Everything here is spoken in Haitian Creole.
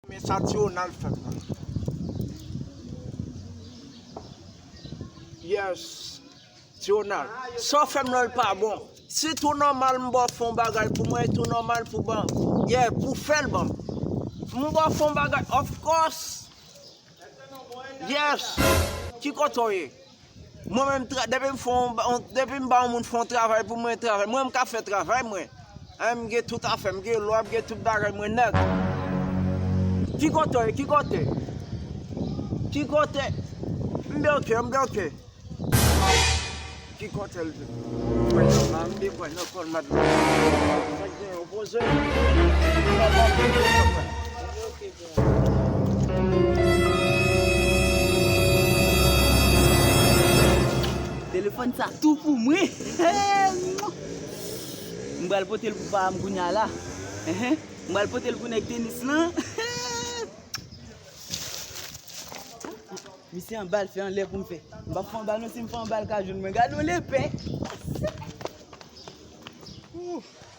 Men sa ti Ronald fem nan. Yes Ti Ronald Sa w fem lan l pa bon Si tou nòmal m ba w fè yon bagay pou mwen e tou nòmal pou ban Yeah pou w fè l ban m M ba w fè yon bagay Of course Yes Ki kote w ye Mwen menm depi m fè yon depi m ba yon moun fè yon travay pou mwen travay mwen m ka fè travay mwen anh m gen tout afè m m gen lwa m gen tout bagay mwen nèt ki kote ki kote ki kote m byen ok m byen ok ki kote l vin mwen nan la m byen mwen nan kòn madanm sa k gen yo poze m nan la m byen ok. Telefòn sa tou pou mwen M pral pote l pou pa m kounya la M pral pote l pou nèg tenis lan Misye anba l se anlè pou m fè M pap fè anba non si m fè anba l ka jwenn mwen Gade yon lepè Ouf